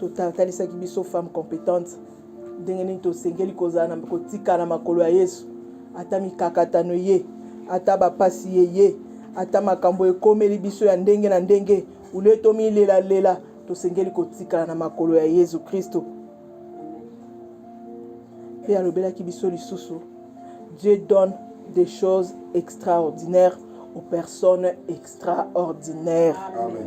totalisaki biso femme compétente ndenge nini tosengeli kozala kotika na makolo ya yesu ata mikakatano ye ata bapasi ye ye ata makambo ekomeli biso ya ndenge na ndenge ulie tomilelalela tosengeli kotikala na makolo ya yesu kristo mpe alobelaki biso lisusu dieu donne des choses extraordinaires aux personnes extraordinaires Amen.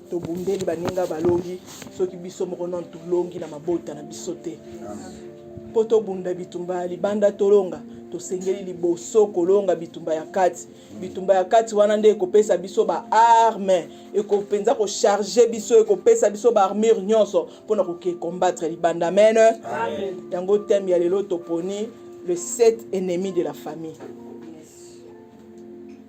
Tobundeli baninga balongi soki biso moko nanu tolongi na mabota na biso te. Mpo tobunda bitumba ya libanda tolonga, tosengeli liboso kolonga bitumba ya kati. Bitumba ya kati wana nde ekopesa biso baarme, ekopenza kocharge biso, ekopesa biso baarmure nyonso mpo na koke combattre libanda. Amen. Yango teme ya lelo toponi le set ennemi de la famille.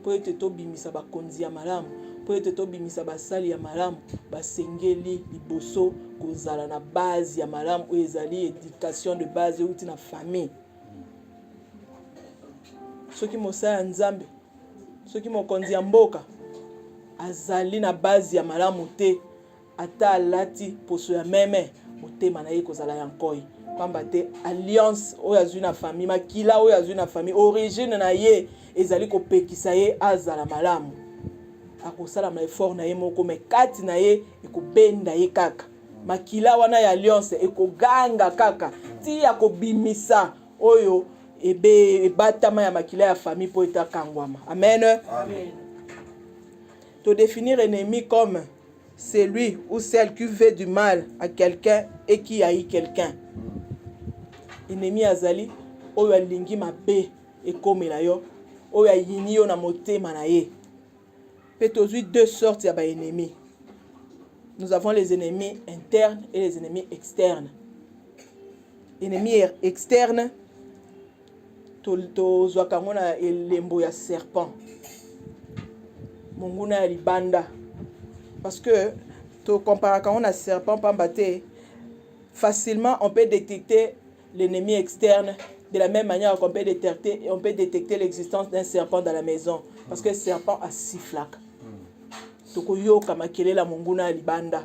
mpo ete tobimisa bakonzi ya malamu mpo ete tobimisa basali ya malamu basengeli liboso kozala na base ya malamu oyo ezali education de base euti na famille soki mosala ya nzambe soki mokonzi ya mboka azali na base ya malamu te Ata alati poso ya meme, motema na ye ekozala ya nkoi. Pamba te alliance oyo azwi na famille, makila oyo azwi na famille, origine na ye ezali kopekisa ye azala malamu. Akosala ma effort na ye moko, mais kati na ye ekobenda ye kaka. Makila wana ya alliance ekoganga kaka ti ya kobimisa oyo ebe ebatama ya makila ya famille mpo etakangwama. Amen. Amen. To definir ennemi comme celui ou celle qui veut du mal à quelqu'un et qui haït quelqu'un ennemi azali oyo alingi mabe ekomela yo oyo ayini yo na motema na ye mpe tozwi deux sortes ya baennemi nous avons les ennemis internes et les ennemis externes ennemi er-, externe tozwaka yango na elembo ya serpent monguna ya libanda parce que tocomparaka yango na serpent mpamba te facilement on peut détecter l'ennemi externe de la même manière qu'on peut détecter, on peut détecter l'existence d'un serpent dans la maison parce que serpent asiflaka tokoyoka makelela monguna ya libanda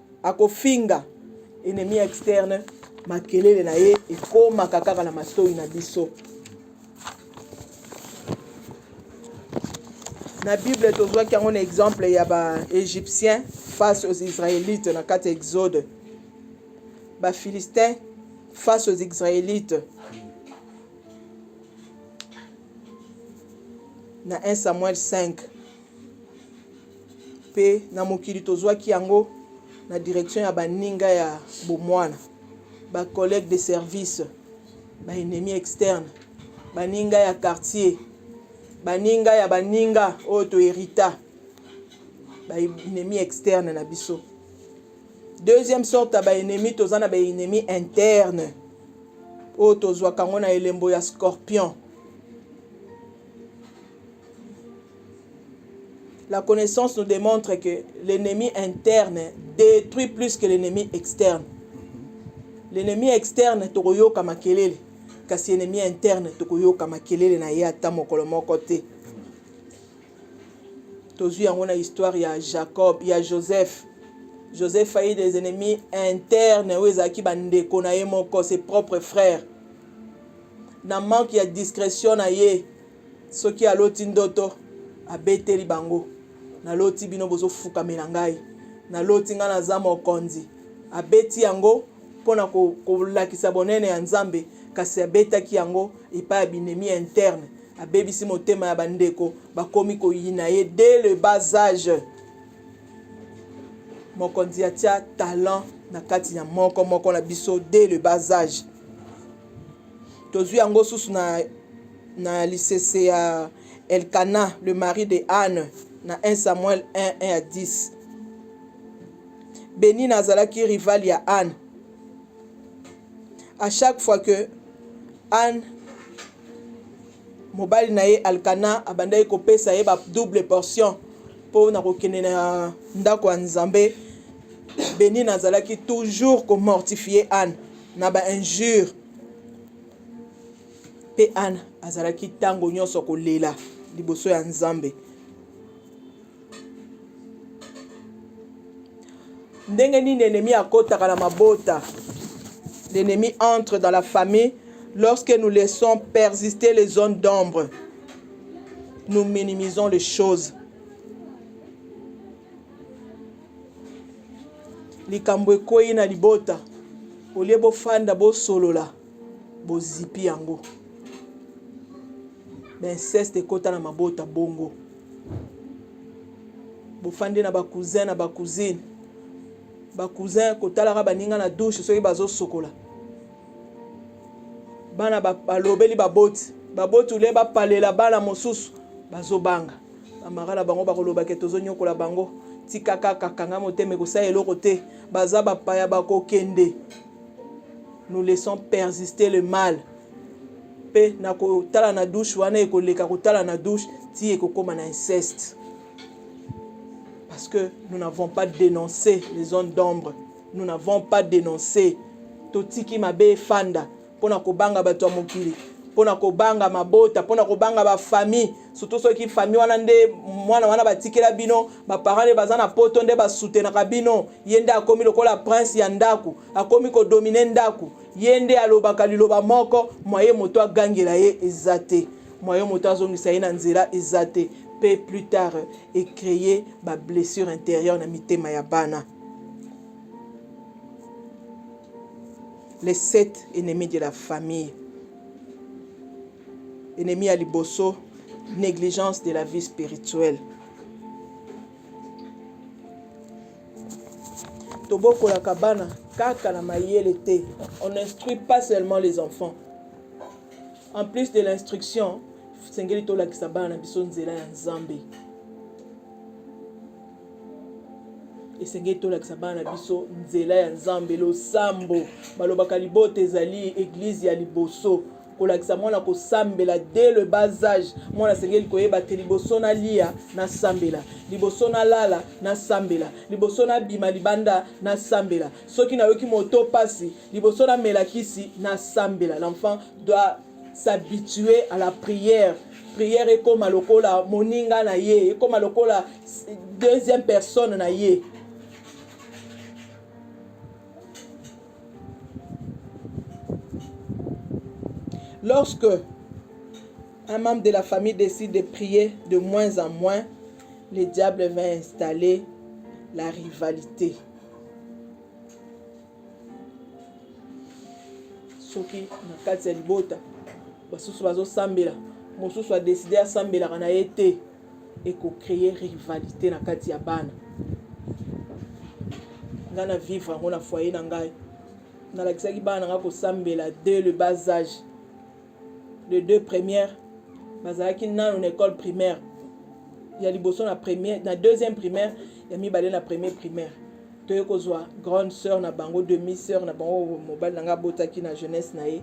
akofinga ennemi externe makelele na ye ekomaka kaka na matoi na biso na bible tozwaki yango na exemple ya baegyptien face aux israélites na kati ya exode bafilistin face aux israélites na 1 samuel 5 mpe na mokili tozwaki yango na direction ya baninga ya bomwana ba collègues de service ba ennemis externes baninga ya quartier baninga ya baninga oyo toherita ba ennemis externes na biso deuxième sorte ya ba ennemis toza na ba ennemis internes oyo tozwaka yango na elembo ya scorpion La connaissance nous démontre que l'ennemi interne détruit plus que l'ennemi externe. L'ennemi externe tokoyoka makelele kasi ennemi interne tokoyoka makelele na ye ata mokolo moko te. Tozwi yango na histoire ya Jacob ya Joseph. Joseph aye des ennemis internes oyo ezalaki bandeko na ye moko ses propres frères na manque ya discrétion na ye soki aloti ndoto abeteli bango naloti bino bozofukamela ngai naloti ngai naza mokonzi abeti yango mpo na kolakisa bonene ya nzambe kasi abetaki yango epai ya binemi ya interne abebisi motema ya bandeko bakomi koyina ye dès le bas age mokonzi atia talent na kati ya moko moko na biso dès le bas age tozwi yango susu na na lisese ya Elkana le mari de Anne na 1 Samuel 1 1 à 10 Benina azalaki rival ya Anne à chaque fois que Anne mobali na ye Alkana abandaki kopesa ye ba double portion mpo na kokende na ndako ya Nzambe Benina azalaki toujours komortifie Anne na ba injure Mpe Ana azalaki ntango nyonso kolela liboso ya Nzambe. Ndenge nini ennemi akotaka na mabota? L'ennemi entre dans la famille lorsque nous laissons persister les zones d'ombre. Nous minimisons les choses. Likambo ekwei na libota, olie bofanda bosolola. bozipi yango bainceste ekota na mabota bongo bofandi na bacousin na bacousine bacousin kotalaka baninga na dushe soki bazosokola bana balobeli baboti baboti ule bapalela bana mosusu bazobanga bamara na bango bakoloba ke tozonyokola bango tika kaka kanga motema ekosala eloko te baza bapaya bakokende nous laissons persister le mal mpe na kotala na douche wana ekoleka kotala na douche ti ekokoma na inceste parce que nous n'avons pas dénoncé les zones d'ombre nous n'avons pas dénoncé totiki mabe efanda mpo na kobanga bato ya mokili mpo na kobanga mabota mpo na kobanga bafamille surtout soki famille wana nde mwana wana batikela bino baparent nde baza na poto nde basutenaka bino ye nde akomi lokola prince ya ndako akomi kodomine ndako ye nde alobaka liloba moko mwaye moto agangela ye eza te mwaye moto azongisa ye na nzela eza te mpe plus tard ecreye bablessure intérieure na mitema ya bana les sept ennemis de la famille Ennemi ya liboso, negligence de la vie spirituelle. Tobokolaka bana kaka na mayele te. On instruit pas seulement les enfants. En plus de l'instruction, sengeli tolakisa bana na biso nzela ya Nzambe. esengeli tolakisa bana na biso nzela ya nzambe losambo balobaka libota ezali eglize ya liboso kolakisa mwana kosambela de le bas age mwana asengeli koyeba te liboso nalia nasambela liboso nalala nasambela liboso nabima libanda nasambela soki nayoki moto mpasi liboso namela kisi nasambela l'enfant doit s'habituer à la prière prière ekoma lokola moninga na ye ekoma lokola deuxième personne na ye Lorsque un membre de la famille décide de prier de moins en moins, le diable va installer la rivalité. soki na kati ya libota basusu bazosambela mosusu adeside asambelaka na ye te eko cree rivalite na kati ya bana nga na vivre yango na foyer na ngai nalakisaki bana na ngai kosambela de le bas age de deux premières bazalaki nano na école primaire ya liboso na première na deuxième primaire ya mibale na premier primaire toye kozwa grande sœur na bango demi sœur na bango mobali na ngai abotaki na jeunesse na ye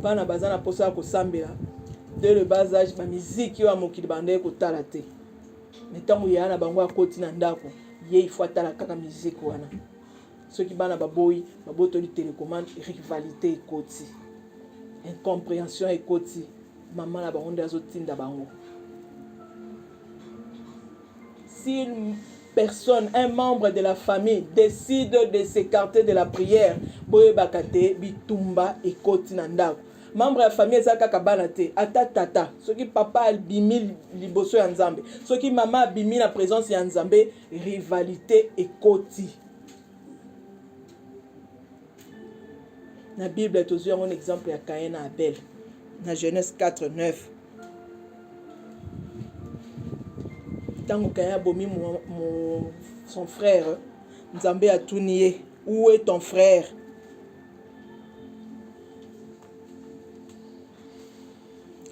bana baza na mposa ya kosambela de le bas age bamiziki oyo ya mokili bandaki kotala te me ntango yaya na bango akoti na ndako ye ifo atala kaka miziki wana soki bana baboyi babotoli telecommande rivalité ekoti incomprehension ekoti mama na bango nde azotinda bango si une personne un membre de la famille décide de s'écarter de la prière boyebaka te bitumba ekoti na ndako membre ya famille eza kaka bana te ata tata soki papa abimi liboso ya nzambe soki mama abimi na présence ya nzambe rivalité ekoti na bible tozwi yango na exemple ya kain na abel na genèse 4 9 ntango kain abomi son frère nzambe atuni ye où est ton frère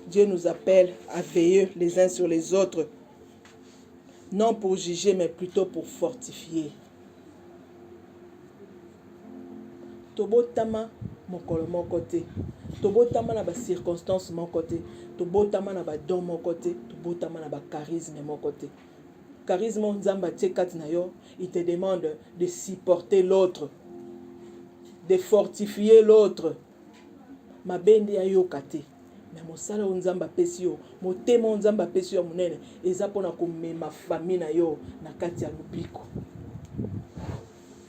Dieu nous appelle à veiller les uns sur les autres, non pour juger, mais plutôt pour fortifier. tobotama mokolo moko te tobotama na bacirconstance moko te tobotama na badon moko te tobotama na bacharisme moko te charisme oyo nzambe atie kati na yo il te demande de supporter l'autre de fortifier l'autre mabe nde ayoka te me mosala oyo nzambe apesi yo motema oyo nzambe apesi yo ya monene eza mpo na komema fami na yo na kati ya lobiko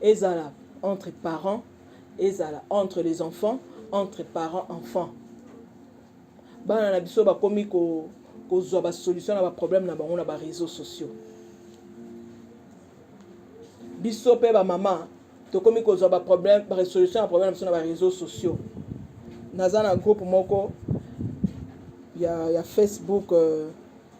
ezala entre parents ezala entre les enfants entre parents enfants bana na biso bakomi ko kozwa basolution na baproblème na bango na bareseau sociaux biso mpe bamama tokomi kozwa baproblème baresolution ya problème na biso na bareseau sociaux naza na groupe moko ya, ya facebook euh,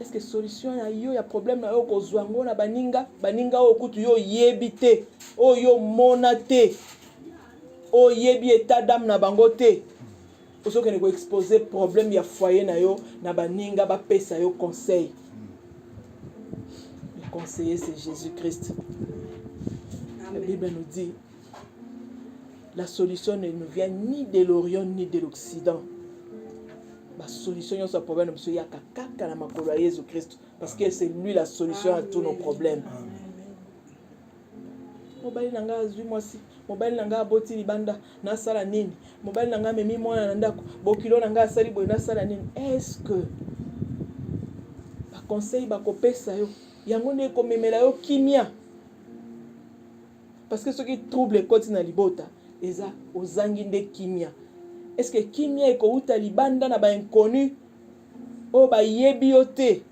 est-ce que solution na yo ya problème na yo okozwa yango na baninga baninga oyo kutu yo oyebi te oyo omona te oyebi etat dame na bango te ozokende koexpose problème ya foyer na yo na baninga bapesa yo conseil le conseiller c'est jésus christ la bible nous dit la solution ne nous vient ni de l'orient ni de l'occident ba solution nyonso ya problème na biso eyaka kaka na makolo ya yesu kristo parce que c'est lui la solution à tous nos problèmes mobali na ngai azwi mwasi mobali na ngai aboti libanda nasala nini mobali na ngai amemi mwana na ndako bokilo na ngai asali boye nasala nini est ce que baconseil bakopesa yo yango nde ekomemela yo kimia parce que soki trouble ekoti na libota eza ozangi nde kimia est ce que kimia ekowuta libanda na ba inconnu oyo bayebi yo te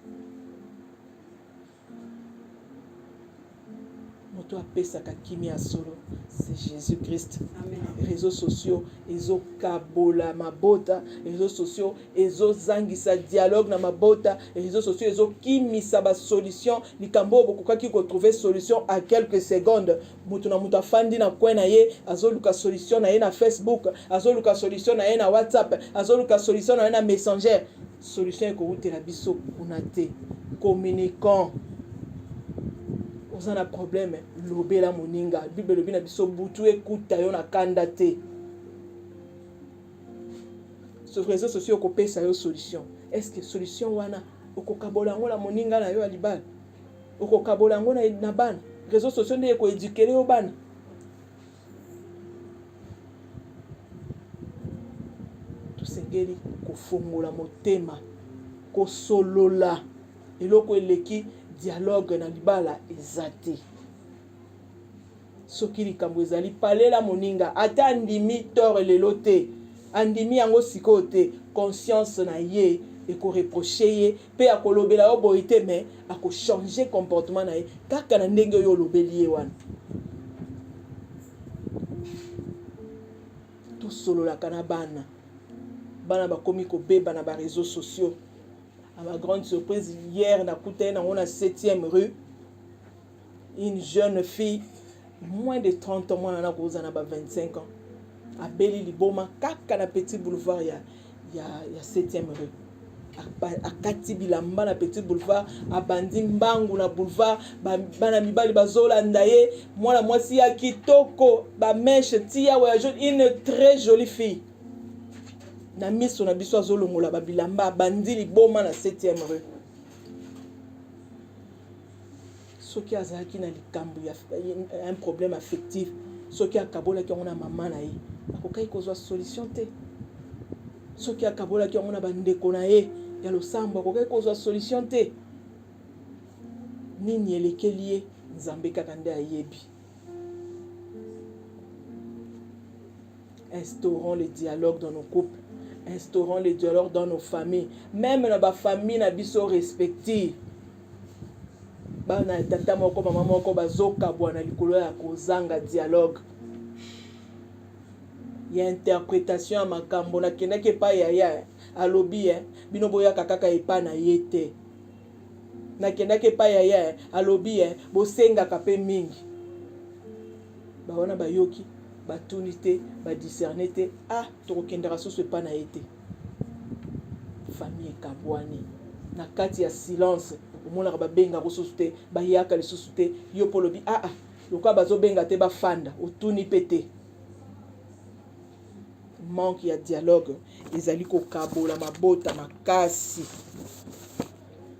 moto apesaka kimia ya solo c'est jésus christ réseaux sociaux ezokabola mabota réseaux sociaux ezozangisa dialogue na mabota réseaux sociaux ezokimisa basolution likambo oyo bokokaki kotrouve solution à quelques secondes moto na moto afandi na coin na ye azoluka solution na ye na facebook azoluka solution na ye na whatsapp azoluka solution na ye na messenger solution ekowutela biso kuna te communiquant oza na problème lobela moninga bible elobi na biso butu ekuta yo na kanda te sur réseaux sociaux okopesa yo solution est ce que solution wana okokabola yango na moninga na yo ya libala okokabola yango na bana réseaux sociaux nde ekoedukele yo bana tosengeli kofongola motema kosolola eloko eleki dialogue na libala eza te soki likambo ezali palela moninga ata andimi tore lelo te andimi yango sikoyo te conscience na ye ekoreproche ye mpe akolobela yo boye te me akochange comportement na ye kaka na ndenge oyo olobeli ye wana tosololaka na bana bana bakomi kobeba na bareseau sociaux à ma grande surprise hier nakutani nango na 7e rue une jeune fille moins de 30 ans mwana na koza na ba 25 ans abeli liboma kaka na petit boulevard ya ya ya 7e rue akati bilamba na petit boulevard abandi mbangu na boulevard bana mibali bazolanda ye mwana mwasi ya kitoko bameshe tiya wayajo une très jolie fille na miso na biso azolongola babilamba abandi liboma na 7e rue soki azalaki na likambo ya un problème affectif soki akabolaki yango na mama na ye akokaki kozwa solution te soki akabolaki yango na bandeko na ye ya losambo akokaki kozwa solution te nini elekeli ye nzambe kaka nde ayebi instaurons le dialogue dans nos couples instaurons le dialogue dans nos familles même na bafamille na biso respective bana ya tata moko mama moko bazokabwana likolo ya kozanga dialogue ya interpretation ya makambo nakendaki epai ya ya alobi eh, bino boyaka kaka epai na ye te nakendaki epai ya ya eh, alobi eh, bosengaka mpe mingi bawana bayoki batuni te badiscerne te ah tokokendaka susu epai na ye te famille ekabwani na kati ya silence omonaka babengaka osusu te bayaka lisusu te yo mpo olobi aa ah, ah, lokola bazobenga te bafanda otuni mpe te manque ya dialogue ezali kokabola mabota makasi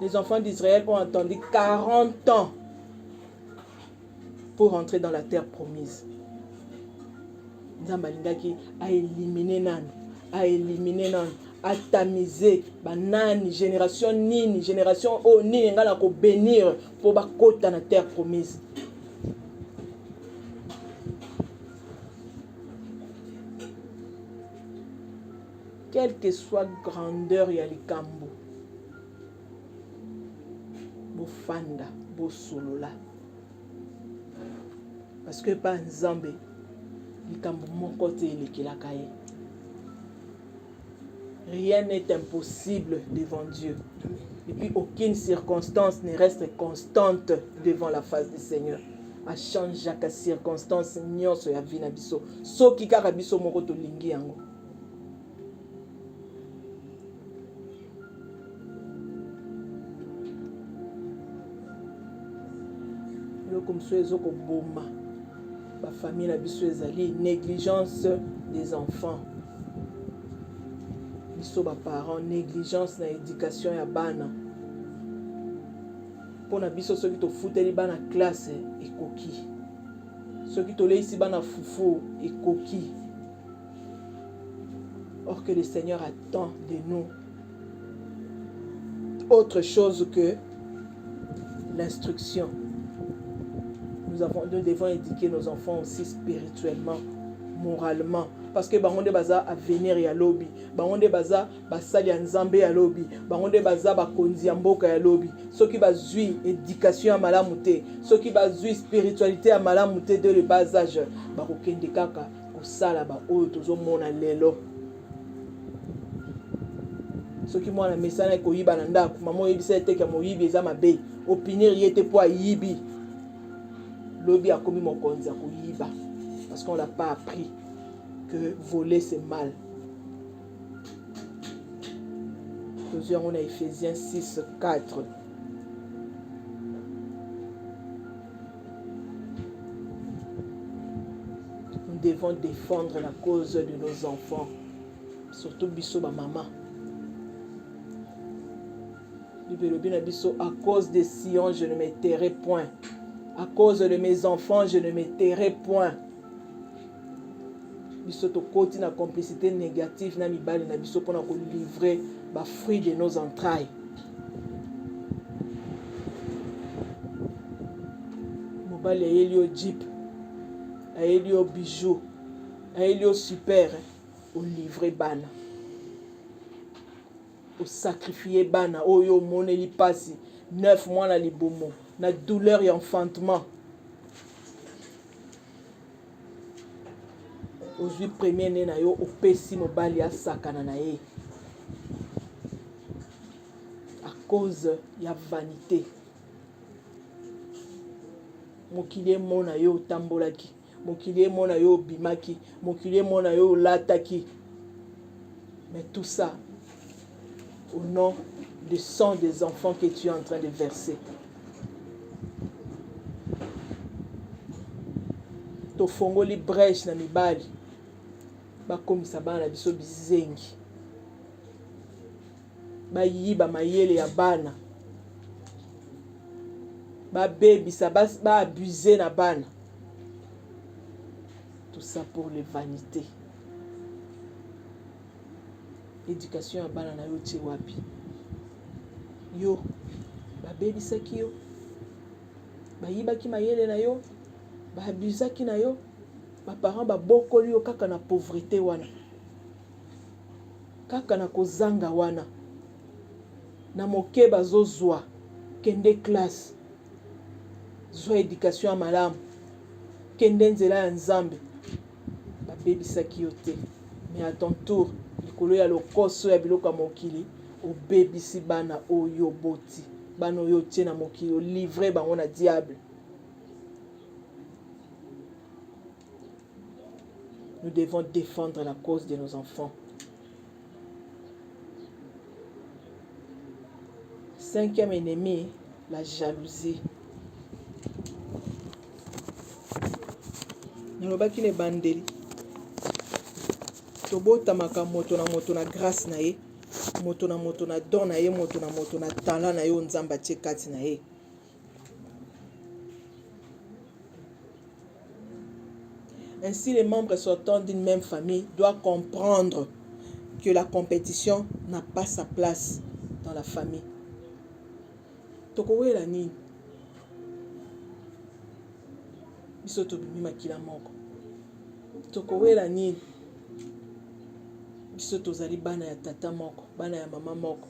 Les enfants d'Israël ont attendu 40 ans pour rentrer dans la terre promise. nzambe alingaki aelimine nani aelimine nani atamize banani génération nini génération oyo oh, nini ngai nakobénir mpo bakota na terre promise Quelle que soit grandeur ya likambo, bofanda bosolola parce que epai Nzambe likambo moko te elekelaka ye. Rien n'est impossible devant Dieu. Et puis aucune circonstance ne reste constante devant la face du Seigneur. achangeaka circonstance nyonso ya vi na biso soki kaka biso moko tolingi yango eloko mosusu ezokoboma bafamille na biso ezali négligence des enfants biso baparent négligence na éducation ya bana mpo na biso soki tofuteli bana classe ekoki soki toleisi bana fufu ekoki Or que le Seigneur attend de nous autre chose que l'instruction. Nous, avons, nous devons éduquer nos enfants aussi spirituellement, moralement. Parce que bango nde baza avenir ya lobi bango nde baza basali ya nzambe ya lobi bango nde baza bakonzi ya mboka ya lobi soki bazwi éducation ya malamu te soki bazwi spiritualité ya malamu te de le bas âge bakokende kaka kosala baoyo tozomona lelo soki mwana mesana ekoyiba na ndako mama oyebisa ye teke moyibi eza mabe opinir ye te mpo ayibi lobi akomi mokonzi ya koyiba parce qu'on l'a pas appris que voler c'est mal tozwi yango na ephésiens 6 4 nous devons défendre la cause de nos enfants surtout biso bamama bible elobi na biso à cause de sion je ne me tairai point à cause de mes enfants je ne me tairai point biso tokoti na complicité négative na mibali na biso mpona kolivre bafruit de nos entrailles mobali ayeli yo jeep ayeli yo bijou ayeli yo super olivre bana osakrifie bana oyo omoneli mpasi 9 mois na libumu na douleur ya enfantement ozwi premier ne na yo opesi mobali asakana na ye a cause ya vanité mokili emona yo otambolaki mokili emona yo obimaki mokili emona yo olataki mais tout ça au nom du sang des enfants que tu es en train de verser. tofongoli brèche na mibali bakomisa bana na biso bizengi bayiba mayele ya bana babebisa baabuse na bana tout ça pour les vanités education ya bana na yo otie wapi yo babebisaki yo bayibaki mayele na yo baabusaki na yo baparent babokoli yo kaka na pauvrete wana kaka na kozanga wana na moke bazozwa kende classe zwa education ya malamu kende nzela ya nzambe Babebisaki yo te, mais à ton tour likolo ya lokoso ya biloko ya mokili obebisi bana oyo oboti, bana oyo otie na mokili, olivre bango na diable. Nous devons défendre la cause de nos enfants. Cinquième ennemi, la jalousie. nalobaki na ebandeli tobotamaka moto na moto na grâce na ye moto na moto na don na ye moto na moto na talent na ye oyo nzambe atie kati na ye Ainsi, les membres sortants d'une même famille doivent comprendre que la compétition n'a pas sa place dans la famille. tokowela nini biso tobimi makila moko tokowela nini biso tozali bana ya tata moko bana ya mama moko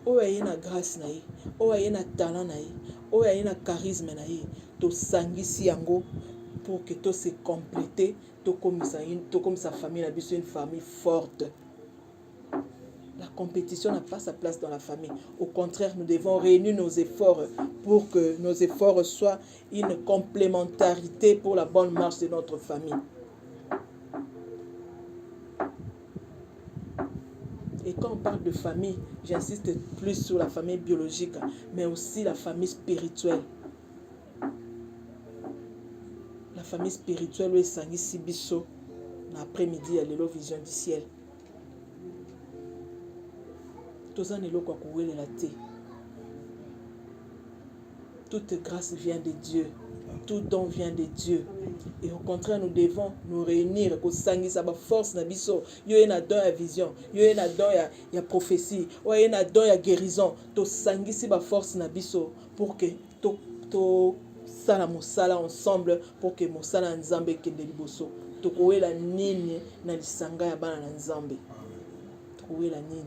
oyo aye na grâce na ye oyo aye na talent na ye oyo aye na charisme na ye tosangisi yango pour que to se compléter tokomisa tokomisa famille na biso une famille forte la compétition n'a pas sa place dans la famille au contraire nous devons réunir nos efforts pour que nos efforts soient une complémentarité pour la bonne marche de notre famille Et quand on parle de famille, j'insiste plus sur la famille biologique, mais aussi la famille spirituelle. La famille spirituelle oyo esangisi biso na après-midi ya lelo vision du ciel. Toza na eloko ya kowelela te. Toute grâce vient de Dieu. Tout don vient de Dieu. Et au contraire, nous devons nous réunir, kosangisa ba force na biso. Yo na don ya vision, yo na don ya, ya prophétie, oye na don ya guérison. To sangisi ba force na biso pour que to to sala mosala ensemble pour que mosala ya Nzambe ekende liboso. Tokowela nini na lisanga ya bana na Nzambe? Tokowela nini?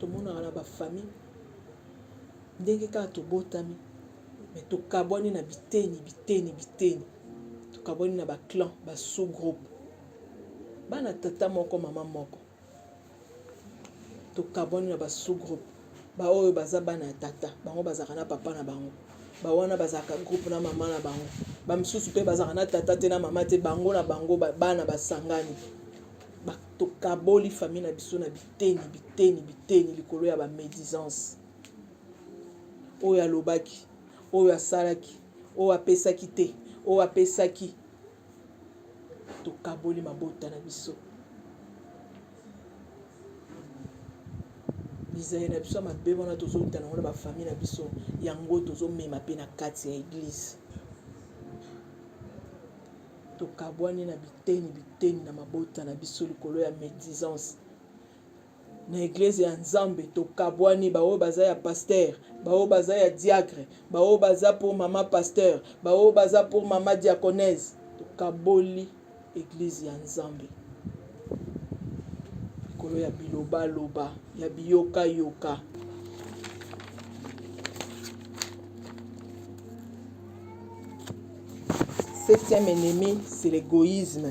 tomonaka na bafamille ndenge kaka tobotami me tokabwani na biteni biteni biteni tokabwani na baclan basous groupe bana tata moko mama moko tokabwani na basous-groupe baoyo baza bana ya tata bango bazalaka na papa na bango bawana bazalaka groupe na mama na bango bamisusu mpe bazalaka na tata te na mama te bango na bango bana basangani tokaboli fami na biso na biteni biteni biteni likolo ya bamédisance oyo alobaki oyo asalaki oyo apesaki te oyo apesaki tokaboli mabota na biso bizali na biso ya mabe wana tozowuta nango na bafamille na biso yango tozomema mpe na kati ya eglize tokabwani na biteni biteni na mabota na biso likolo ya médisance na eglise ya nzambe tokabwani baoyo baza ya pasteur baoyo baza ya diacre baoyo baza pour mama pasteur baoyo baza pour mama diaconese tokaboli eglise ya nzambe likolo ya bilobaloba ya biyokayoka septième ennemi c'est l'égoïsme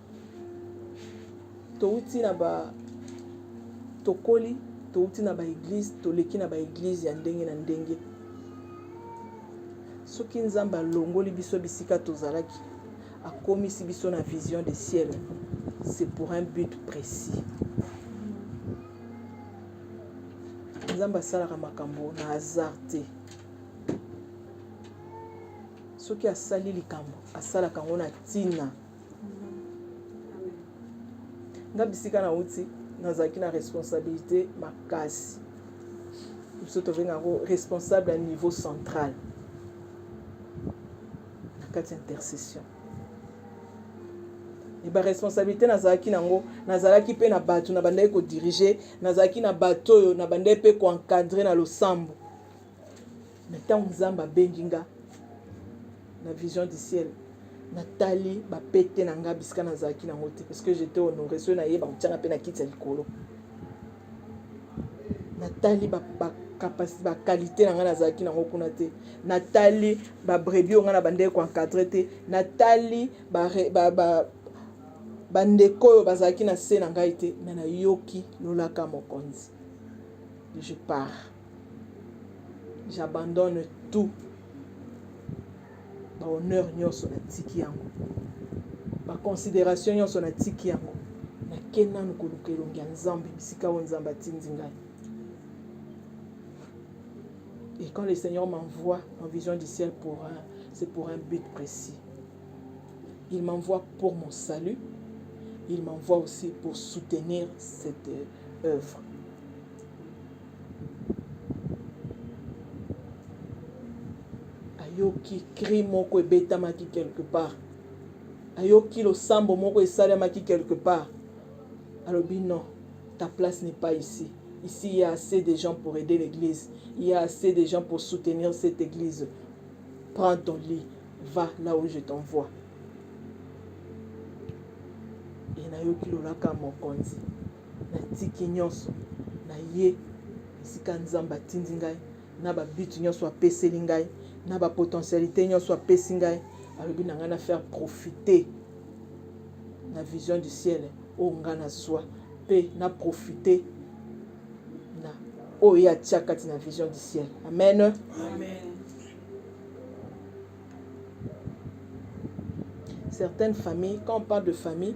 towuti na ba tokoli towuti na baeglize toleki na baeglize ya ndenge na ndenge soki nzambe alongoli biso bisika tozalaki akomisi biso na vision de ciel c'est pour un but précis nzambe asalaka makambo na hasard te soki asali likambo asalaka yango na ntina nga bisika nauti nazalaki na responsabilité makasi biso tobenga yango responsable ya niveau central na kati ya intercession baresponsabilité nazalaki nango nazalaki mpe na bato na bandaki kodirige nazalaki na bato oyo na bandaki mpe koencadre na losambo na ntango nzambe abengi nga na vision du ciel natali bapete na nga bisika nazalaki nango te parce que j'étais honore soki nayeba kotyanga mpe na kiti ya likolo natali bakalite na ngai nazalaki nango kuna te natali babrebi oyo ngai na bandeki koencadre te natali bandeko oyo bazalaki na se na ngai te me nayoki lolaka mokonzi je pars j'abandonne tout bahonneur nyonso natiki yango baconsidération nyonso natiki yango nake nanu koluka elongi ya nzambe bisika oyo nzambe atindi ngai et quand le seigneur m'envoie en vision du ciel pour un, c'est pour un but précis il m'envoie pour mon salut il m'envoie aussi pour soutenir cette euh, œuvre ayoki cri moko ebetamaki quelque part ayoki losambo moko esalemaki quelque part alobi non ta place n'est pas ici ici il y a assez de gens pour aider l'église il y a assez de gens pour soutenir cette église prends ton lit va là où je t'envoie e nayoki lolaka mokonzi Natiki nyonso, naye esika Nzambe atindi ngai, na ba but nyonso apeseli ngai, na ba potentialite nyonso apesi ngai. Alobi na ngai na faire profiter na vision du ciel oyo ngai nazwa mpe na profiter na oyo ye atya kati na vision du ciel. Amen, amen. Certaines familles, quand on parle de famille,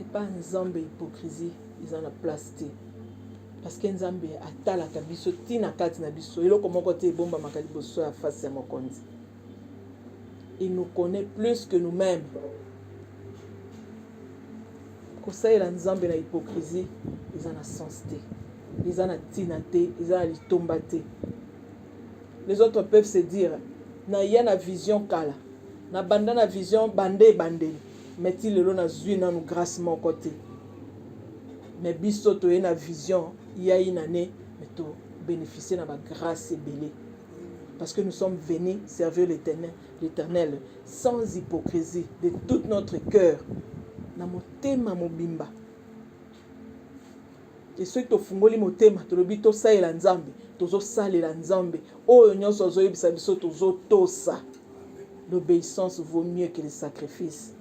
epa nzambe hypocrisie eza na place te parce que nzambe atalaka biso ti na kati na biso eloko moko te ebombamaka liboso ya face ya mokonzi il nous connaît plus que nous-mêmes kosalela nzambe na hypocrisie eza na sens te eza na ntina te eza na litomba te les autres peuvent se dire naya na vision kala na banda na vision bande ebandeli mais ti lelo nazwi nanu grâce moko te mais biso toye na vision ya inane mais to bénéficier na bagrâce ebele parce que nous sommes venus servir l'éternel l'éternel sans hypocrisie de tout notre cœur na motema mobimba te soki tofungoli motema tolobi tosalela nzambe tozosalela nzambe oyo nyonso azoyebisa biso tozotosa l'obéissance vaut mieux que le sacrifice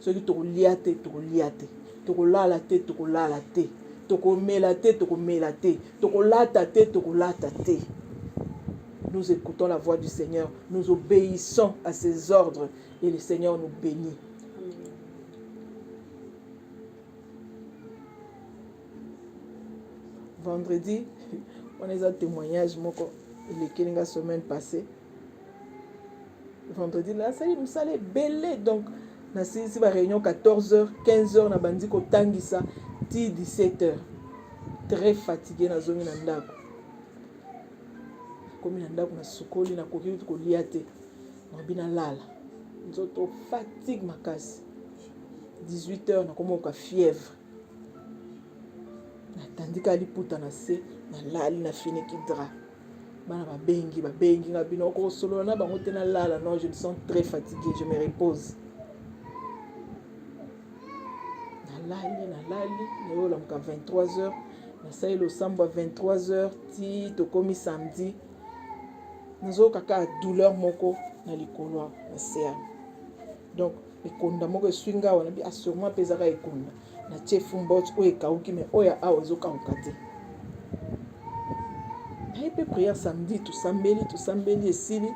soki tokolia te tokolia te tokolala te tokolala te tokomela te tokomela te tokolata te tokolata te nous écoutons la voix du seigneur nous obéissons à ses ordres et le seigneur nous bénit vendredi wana eza témoignage moko elekeli nga semaine passée vendredi nasali mosala ebele donc nasilisi baréunion 14 heures 15 heures nabandi kotangisa ti 17 heures très fatigue nazongi na ndako komi na ndako nasukoli nakoki kolia te nabi nalala nzoto fatigue makasi 18 heures nakomoka fièvre natandika liputa na se nalali na finiki dra bana babengi babengi nga bino okosolola na bango te nalala non je me sens très fatigué je me repose nalali nalali nayolamuka 23 heures nasali losambo ya 23 heures ti tokomi samedi nazoyoka kaka douleur moko na likolo na sea donc ekonda moko eswi nga awa nabi assurement ah, mpe ezaka ekonda na tie fumbot oyo ekauki me oyo ya awa ezokauka te naye mpe prière samedi tosambeli tosambeli esili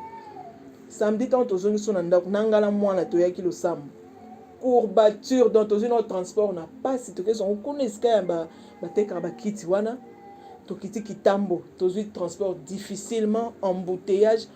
samedi ntango tozongi so na ndako na ngala mwana toyaki losambo courbature donc tozwi nao transport na mpasi tokei songo kuna esika ya batekaka bakiti wana tokiti kitambo tozwi transport difficilement embouteillage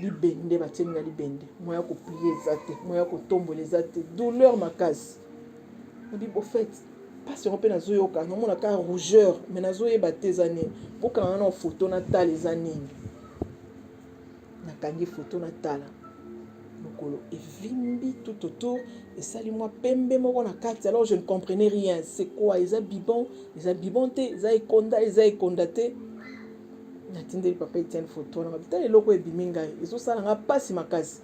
libende batiemi na libende moya koplie eza te moya kotombola eza te douleur makasi nabi bofete mpasi yango mpe nazoyoka namona ka rougeur me nazoyeba te eza nini bokanga na foto natala eza nini nakangi foto natala mokolo evimbi tout autour esali mwa pembe moko na kati alors je ne comprenais rien c'est quoi eza bibon eza bibon te eza ekonda eza ekonda te natindeli papa etienne foto wana babita eloko ebimi ngai ezosala nga mpasi makasi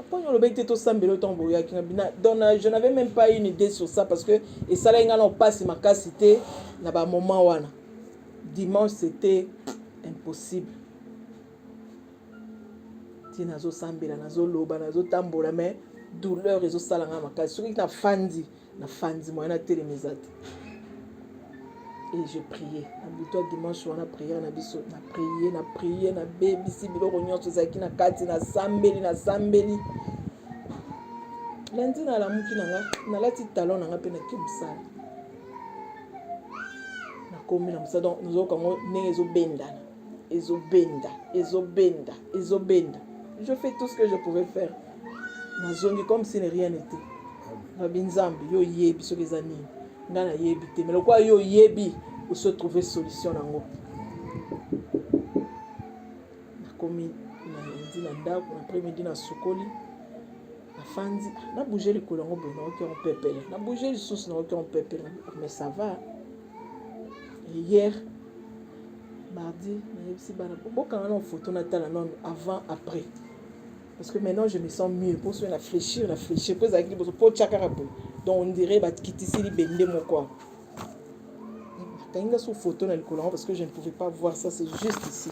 aponi olobaki te tosambela yo ntango boyaki nga bina donc je n'avais même pas une idée sur ça parce que esalaki ngai na mpasi makasi te na bamoment wana dimanche c'était impossible ti nazosambela nazoloba nazotambola mais douleur ezosala ngai makasi soki nafandi na fandi moyen na telema eza te et je priais na butu ya dimanche wana priere na biso na priye na priye na bebisi biloko nyonso ezalaki na kati na sambeli na sambeli lundi nalamuki na nga nalati talon na nga mpe nake mosala nakomi na mosala donc nazoyoka yango ndenge ezobendana ezobenda ezobenda ezobenda je fais tout ce que je pouvais faire nazongi comme si ne rien n'était babi nzambe yo oyebi soki eza nini nga nayebi te mais lokola yo oyebi osi otrouve solution nango nakomi nandi na ndako na après midi nasukoli nafandi nabouge likolo yango boye naoki yango pepele nabouge lisusu naoki yango pepele mais ça va hier mardi nayebisi bana bokanga nao photo natala nano avant après parce que maintenant je me sens mieux mpo soki na fléchir na fléchir mpo ezalaki liboso mpo tya kaka boye donc on dirait bakitisi libende moko awa bakangi nga su photo na likolo yango parce que je ne pouvais pas voir ça c'est juste ici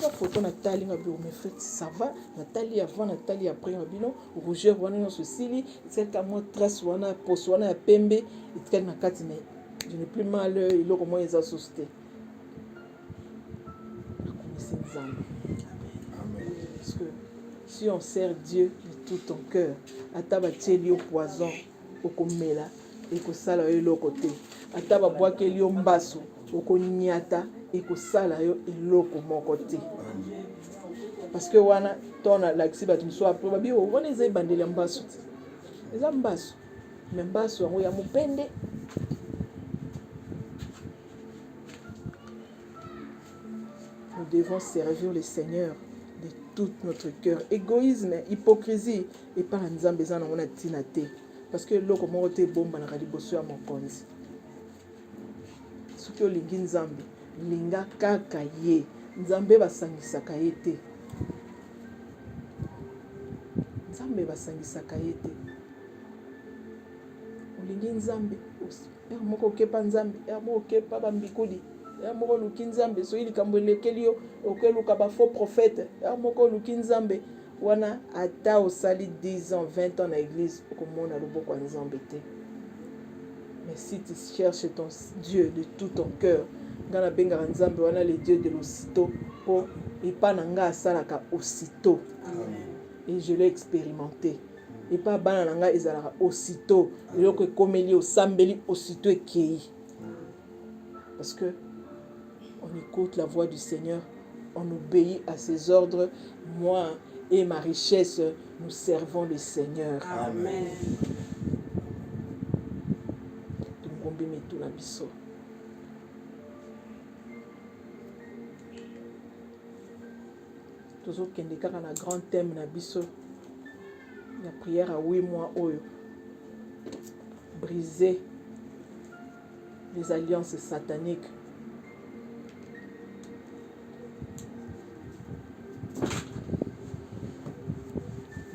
nga foto natali nga biro mefrit sava natali avant natali après nga bino rougeur wana nyonso esili etikali ka mwa trace wana poso wana ya pembe etikali na kati na je ne plus mal eloko moko eza susu te nakomisi nzambe parce que si on sert dieu de tout ton cœur ata batieli yo poison okomela ekosala yo eloko te ata babwakeli yo mbasu okonyata ekosala yo eloko moko te parceke wana to nalakisi bato mosusu apre babi oh, wana eza ebandeli ya mbasu te eza mbasu me mbasu yango ya mopende nous devons servir le seigneur de tout notre cœur égoïsme hypocrisie epai ya nzambe eza nango na ntina te parce que eloko moko te ebombanaka liboso ya mokonzi soki olingi nzambe linga kaka ye nzambe basangisaka ye te nzambe basangisaka ye te olingi nzambe heure moko okepa nzambe heure moko okepa bambikuli heure moko oluki nzambe soki likambo elekeli yo okeluka bafaux prophète heure moko oluki nzambe wana ata osali 10 ans 20 ans na eglise okomona loboko ya nzambe te mais si tu cherches ton dieu de tout ton cœur ngai nabengaka nzambe wana le dieu de l'osito mpo epa na ngai asalaka osito et je l'ai expérimenté epa bana na ngai ezalaka osito eloko ekomeli osambeli osito ekei parce que On écoute la voix du Seigneur, on obéit à ses ordres. Moi et ma richesse, nous servons le Seigneur. Amen. Tungombi mitu na biso. tozokende kaka na grand thème na biso ya prière ya 8 mois oyo brise les alliances sataniques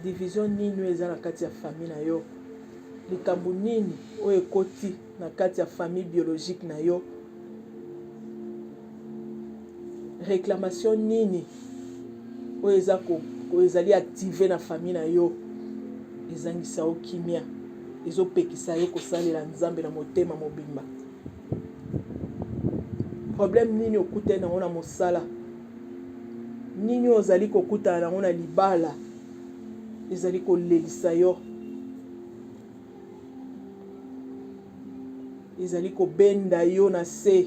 division nini oyo eza na kati ya famille na yo likambo nini oyo ekoti na kati ya famille biologique na yo réclamation nini oyo eza ko oyo ezali active na famille na yo ezangisa yo kimia ezopekisa yo kosalela nzambe na motema mobimba problème nini okutani yango na mosala nini ozali kokutana yango na libala ezali kolelisa yo ezali kobenda yo na se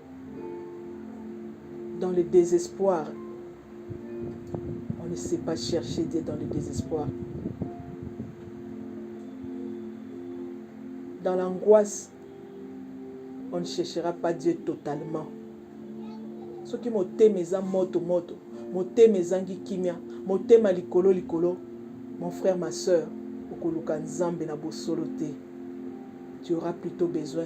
dans le désespoir. On ne sait pas chercher Dieu dans le désespoir. Dans l'angoisse, on ne cherchera pas Dieu totalement. Ce qui motema eza moto moto, motema ezangi kimia, motema likolo likolo, mon frère ma sœur, okoluka Nzambe na bosolo te. Tu auras plutôt besoin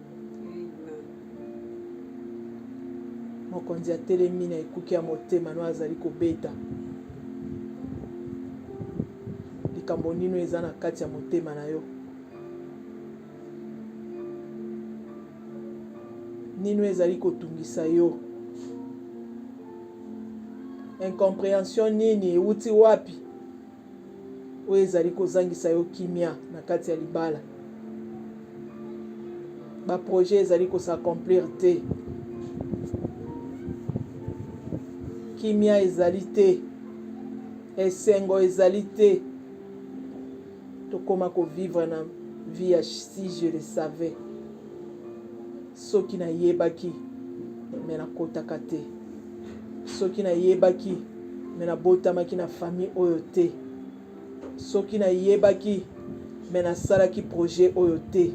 mokonzi atelemi na ekuke ya motema no azali kobeta likambo nino eza na kati ya motema na yo nino ezali kotungisa yo incomprehension nini euti wapi oyo ezali kozangisa yo kimia na kati ya libala baprojet ezali kosacomplir te kimia ezali te esengo ezali te tokoma kovivre na vie ya si je le savais Soki na yebaki mais na kotaka te. Soki na yebaki mais na botamaki na famille oyo te. Soki na yebaki mais na salaki projet oyo te.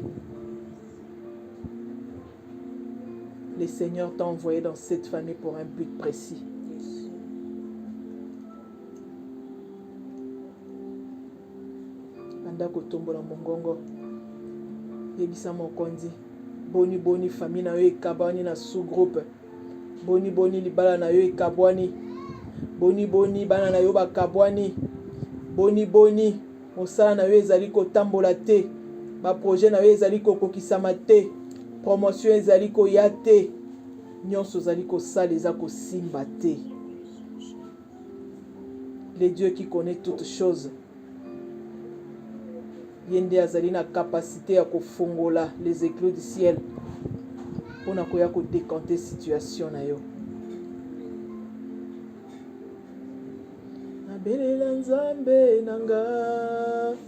Le Seigneur t'a envoyé dans cette famille pour un but précis. banda kotombola mongongo yebisa mokonzi boni boni fami na yo ekabwani na sous-groupe boni boni libala na yo ekabwani boni boni bana na yo bakabwani boni boni mosala na yo ezali kotambola te baprojet na yo ezali kokokisama te promotion ezali koya te nyonso ozali kosala eza kosimba te le Dieu qui connaît toutes choses ye nde azali na capacité ya kofongola les éclos du ciel mpo na koya kodekante situation na yo nabelela nzambe na nga